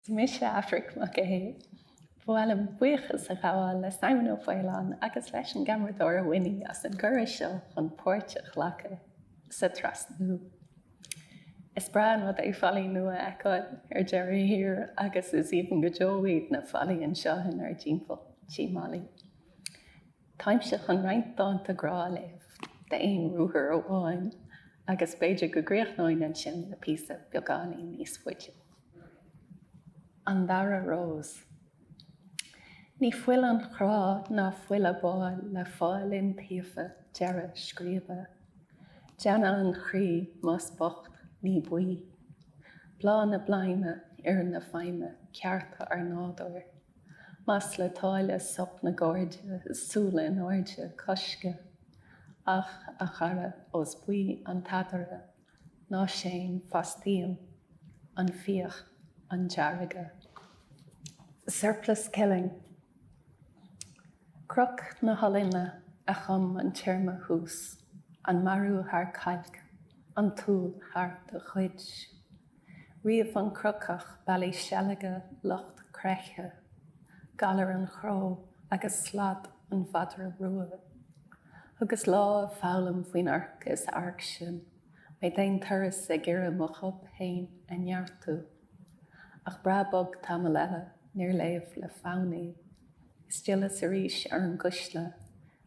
Is mise Aifric Mac Aodha. Ba mhaith liom buíochas a ghabháil le Simon Ó Faoláin agus leis an gceamaradóir Winnie as an gcuireadh seo chun páirt a ghlacadh sa trasnú. Is breá an rud é fallaí nua a fheiceáil ar deireadh thiar agus is aoibhinn go deo iad na fallaí anseo inár dtimpeall. Tí Mholly. Táimse chun roinnt dánta grá a léamh d'aon ruathar amháin agus b'fhéidir go gcríochnóinn ansin le píosa beagáinín níos faide. An Dara Rós. Ní fuil an chrá ná fuil a bhfáil le fáil iontaofa deireadh scríbe. Deanna an chroí, más bocht, ní buí. Bláth na bladhma, oidhre na feidhme, cearta ár nádúir. Más le táille sop na gcairde is súil in airde coisceadh. Ach, a chara, ós buí an t-adhradh, ná séan fastaím an fíoch, an deargadh. Surplus killing. Kruuk na hOllainne a chum an téarma thuas, an marú thar cailc, an tsúil thar do chuid. Ríomh an Kruukach bealaí seilge lucht creiche, galar an chró agus slad an mhadra rua. Thugas lá ag foghlaim faoin orc is airc sin, mé d'aon turas ag iarraidh mo chúb fhéin a neartú. Ach breá bog tamall eile, níor léamh le fonn í. Is d'fhilleas arís ar an gcuisle,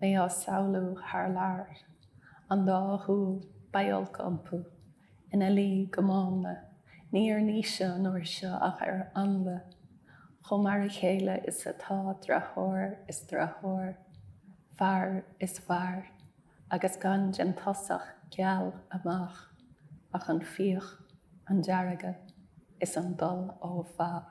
mé á samhlú thar lear, an dá shúil, beidh olc umpu, ina luí go mánla, ní ar Naoise an uair seo ach ar Ainle, chomh mar a chéile is atá deartháir is deartháir, fear is fear, agus gan den tosach geal amach ach an fíoch, an deargadh is an dul ó mhaith.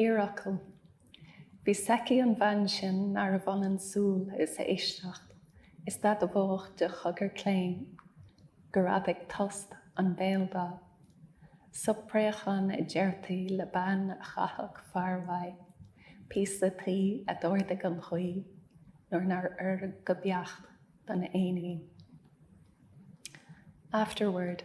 Iarfhocal, Bhí a fhios aici an bhean sin nárbh ionann súil is éisteacht, is d'admhódh de chogar claon, gur fhadaigh tost an béaldath. Sop préacháin a deirtí le bean a chaithfeadh fear uaidh, píosa tuí a d'ardaigh an ghaoth nuair nár oir go beacht don éinín. Afterword,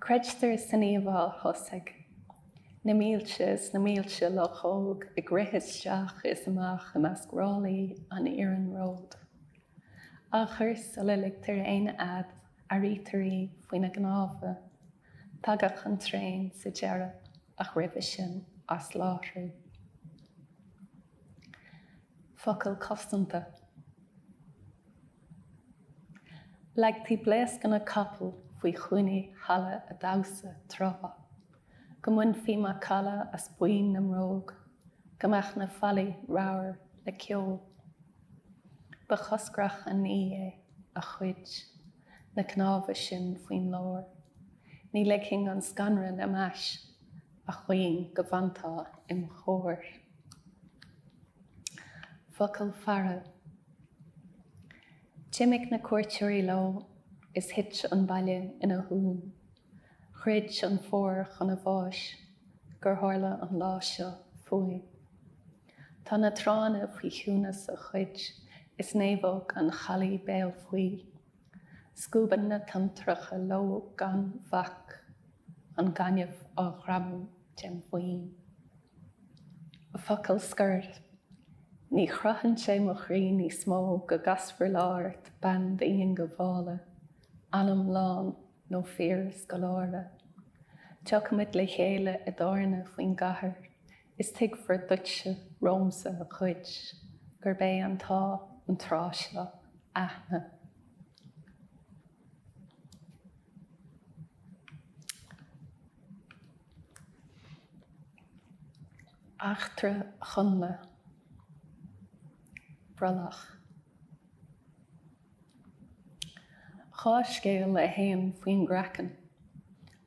Creidtear san íomhá thosaigh. Na mílte is na mílte luchóg ag rith isteach is amach i measc ráillí an iarnróid. Achar sula ligtear aon fhead airítear í faoina gcnámha. Tagadh an traein sa deireadh ach roimhe sin asláithriú. Focal cosanta. Leagtaí blaoscanna capaill faoi chúinní halla a' damhsa tráth, go mbainfí macalla as boinn na mbróg, go mbeadh na fallaí ramhar le ceol. Ba choscrach an ní é, a chuid, na cnámha sin faoin lár. Ní ligfinn an scanradh lem ais, a chaoin, go bhfantá im chomhair. Focal faire D'imigh na cuairteoirí leo is thit an baile ina shuan. Throid an Fómhar chun a bháis gur tharla an lá seo fúinn. Tá na tránna faoi chiúnas a chuid is naomhóg an Chalaidh béal faoi. Scuabann na tonntracha leo gan bhac, an gaineamh á ghreamú dem' bhoinn. Focal scoir, Ní chroitheann sé mo chroí níos mó go gcasfar lá ort, bean diongbhála, anam lán nó fíorscoláire. Tiocfaimid le chéile i dtábhairne faoin gcathair is tuigfear duitse romhamsa a chuid, gurb é an t-ádh an tráth is lú aithne. Eachtra Chonnla, Brollach. Dhá scéal a théann faoin gcraiceann,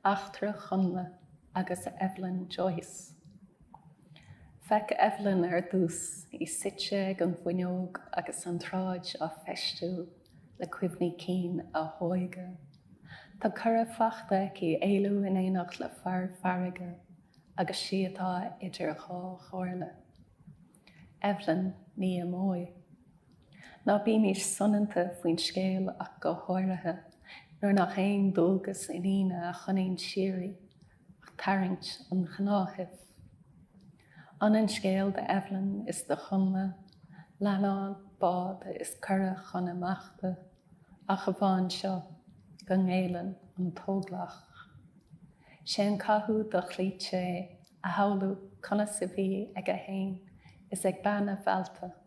Eachtra Chonnla agus Eveline Joyce. Féach Eveline ar dtús, í suite ag an bhfuinneog agus an tsráid á feistiú le cuimhní cinn a hóige. Tá cuireadh fachta aici éalú in éineacht le fear farraige agus 'sí atá idir dhá chomhairle. Eveline, ní imeoidh. Ná bímis soineanta faoin scéal ach go háirithe nuair nach aon dualgas iníne a choinníonn siar í Ach tarraingt an ghnáthaimh. Ionann scéal do Eveline is do Chonnla, leannán, bád is cuireadh chun imeachta, ach amháin seo, go ngéilleann an t-óglach. Sé an cathú dochloíte é a shamhlú conas a bhí aige fhéin is ag bean a mheallta.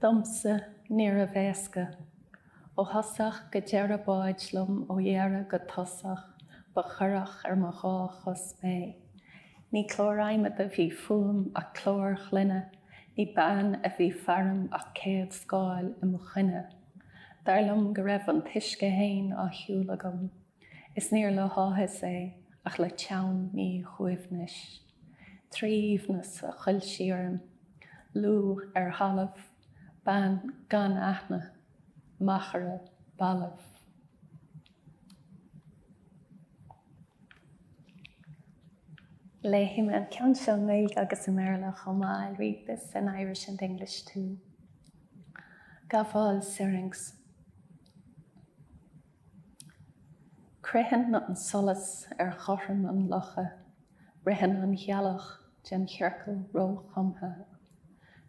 Domsa, níorbh éasca. Ó thosach go deireadh báid liom ó dheireadh go tosach, ba chorrach ar mo dhá chos mé. Ní clár adhmaid a bhí fúm ach clár ghloine, ní bean a bhí faram ach céad scáil i mo choinne. Dar liom go raibh an t-uisce fhéin á shiúl agam, is níor le háthas é ach le teann míshuaimhnis. Trí aoibhneas a thuill sí orm, lúth ar thalamh, bean gan aithne, machaire balbh. Léifidh mé an ceann seo i nGaeilge agus i mBéarla chomh maith, I'll read this in Irish and English too. Gabháil Syrinx. Critheann an solas ar chothrom an locha. Ritheann an ghealach den chiorcal róchumtha.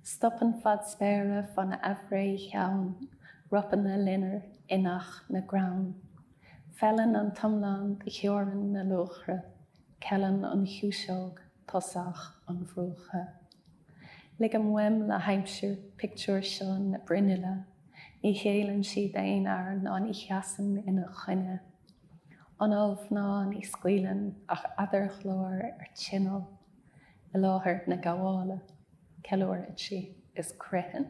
Stopann fad spéire fán aimhréidh theann. Ropann a loinnir inneach na gcrann. Feileann an t-iomlán do theorainn na luachra. Ceileann an chiumhsóg tosach an bhruacha. Ligim uaim le haimsir pictiúr seo na bruinnille, ní ghéilleann sí d'aon fhear ná ní sheasann ina choinne. Anáil mhná, ní scaoileann ach eadarghlór ar tinneall i láthair na gabhála, ceiliúrann sí is critheann.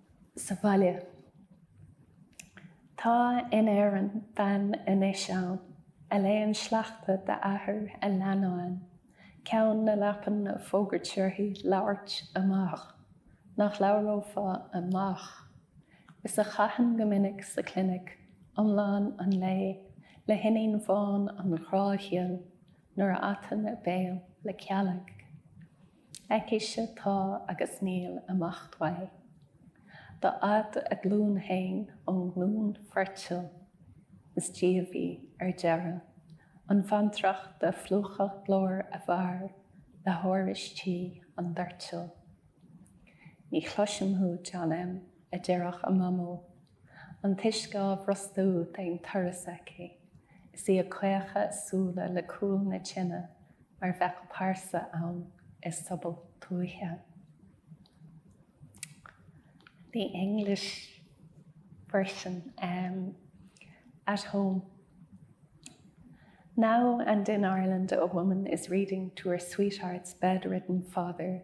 sa bhaile. Tá in Éirinn bean anois ann a léann sleachta d'athair a leannáin, ceann na leapan ag fógairt uirthi labhairt amach, nach labhrófá amach, is a chaitheann go minic sa chlinic iomlán an lae le hiníon bhán an ghrá ghil nuair a atann a béal le cealg. Aicise tá agus níl imeacht uaidh. Dá fhad a glúin fhéin ón nglúin foirtil is díobh í ar deireadh. An bhantracht a phlúchadh glór a bhfear le hárais tí an doirtil. Ní chloisim thú, John M. a deireadh a mamó. An t-uisce á bhrostú d'aon turas aici is í ag caochadh a súile le cúl na tine mar bheadh pearsa ann i sobal tuaithe. The English version um, at home. Now and in Ireland, a woman is reading to her sweetheart's bedridden father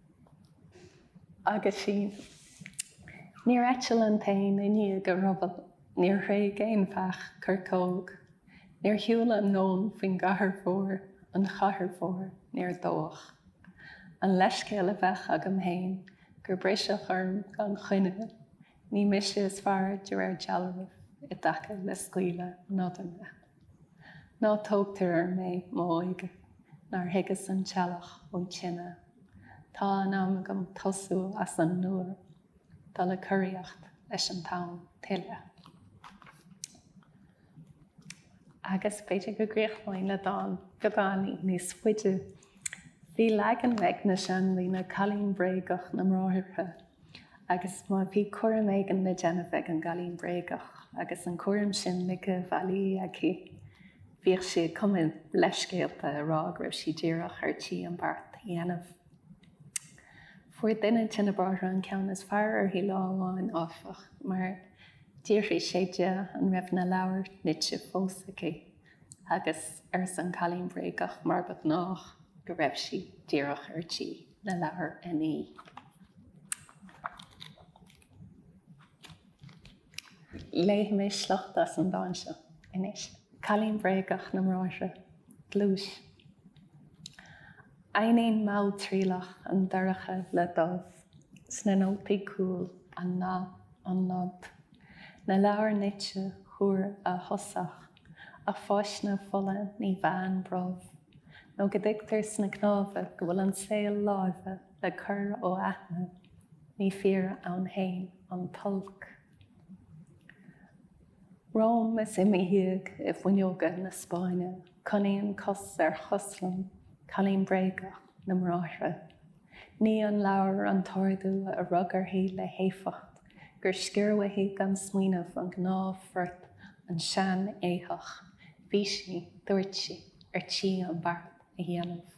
Aguisín. Níor eitil an t-éan i ndiaidh a rubaill, níor thréig aon bheach coirceog, níor shiúil an leon faoin gcathair mhór, an chathair mhór, níor dódh. An leithscéal a bheadh agam fhéin gur briseadh orm gan choinne. Ní mise is fearr de réir dealraimh i dtaca le scaoileadh nodanna. Ná tógtar orm é, m'óige, nár thuigeas an teallach ón tine. Tá in am agam tosú as an nua, dul ag coraíocht leis an dán tuilleadh. agus b'fhéidir go gcríochnóinn le dán beagáinín níos faide. Bhí leagan ag na seandaoine cailín bréagach na mBráithre agus má bhí cúram éigin le déanamh ag an gcailín bréagach agus an cúram sin ligthe i bhfaillí aici bhíodh sí ag cumadh leithscéalta ag rá go raibh sí díreach ar tí an beart a dhéanamh. Fuair duine de na bráithre an ceann is fearr uirthi lá amháin áfach mar D'fhiafraigh sé di an raibh na leabhair nite fós aici agus arsa an cailín bréagach mar ba ghnách go raibh sí díreach ar tí na leabhair a ní. Léifidh mé sliocht as an dán seo anois. Cailín Bréagach na mBráithre, gluais. Aithníonn malltriallach an dorcha le dubh sna nótaí cúil, an nath, an nod, na leabhair nite thuar a thosach, a pháiseanna fola ní mheánn brobh nó go dtuigtear sna cnámha go bhfuil an saol láimhe le cur ó aithne, ní fíor ann féin an t-olc. Romham is i mo dhiaidh i bhfuinneoga na Spáinne coinníonn cos ar chos liom cailín bréagach na mBráithre. Nigh an leabhar an t-ordú a rug uirthi le héifeacht gur sciorr uaithi gan smaoineamh an gnáthphort an sean-éitheach. Bhí sí, dúirt sí, ar tí an beart. a dhéanamh.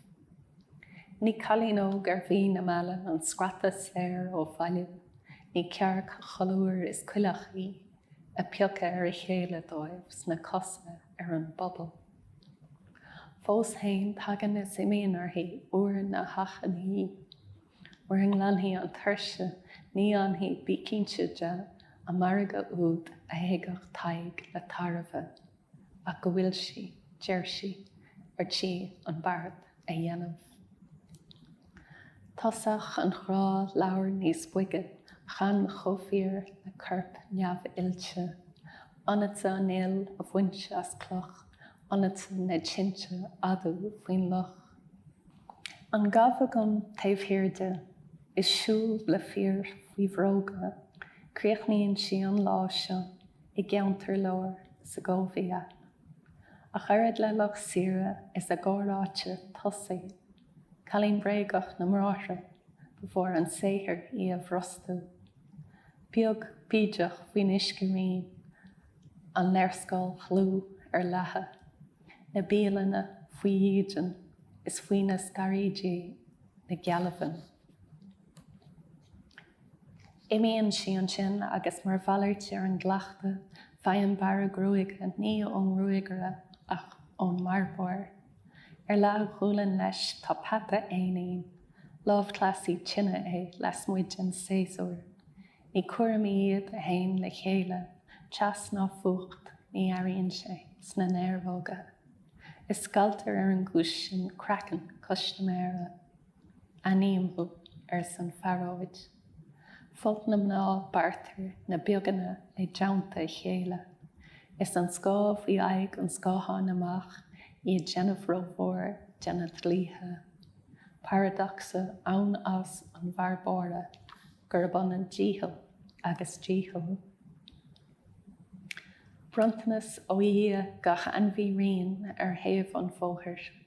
Ní cailín óg ar mhí na meala an scrata soir ó bhaile, ní cearc cholúir is coileach í, ag piocadh ar a chéile dóibh sna cosa ar an bpobal. Fós fhéin tagann is imíonn uirthi uair na hachainí. Uair a nglanfaidh an tuirse ní fhanfaidh, bí cinnte de, an margadh úd a théigeadh Tadhg le tairbhe. ach go bhfuil sí, deir sí, ar tí an beart a dhéanamh. Tosach an ghrá labhair níos boige chan chomh fíor na coirp neamh-oilte. Iontu an fhuil a bhaint as cloch, iontu na tinte adú faoin loch. An gabh agam taobh thiar de, is siúl le fir faoi bhróga, críochnaíonn sí an lá seo. i gceantar lár Segovia, ach oiread le lucht saoire is a gcomhráite tosaigh, cailín bréagach na mBráithre, ba mhór an saothar í a bhrostú. Beag bídeach faoin uiscerian, an léarscáil dhlúth ar leathadh, na bialanna faoi dhídean is faoi na scaraoidí na gealbhain. Imíonn sí ansin agus mar mhalairt ar an gcleachtadh, faigheann bearradh gruaige, ní ón ngruagaire ach ón mbearbóir. Ar leathghualainn leis tá peata éinín, lámhchleasaí tine é, lasmuigh den séasúr. Ní cúraimí iad a théann le chéile, teas ná fuacht, ní airíonn sé sna néaróga. Is scalltar ar an gcúis sin craiceann custaiméara. Aithním thú, arsa an phearóid. Folt na mná bearrtar na beaganna i dteannta a chéile, is an scáth faoi aghaidh an scátháin amach, í ag déanamh rómhór de na dlaoithe. Paradacsa ansa an bhearbóra gurb ionann dícheall agus dícheall. Bronntanas ó Dhia gach ainmhí righin ar thaobh an bhóthair.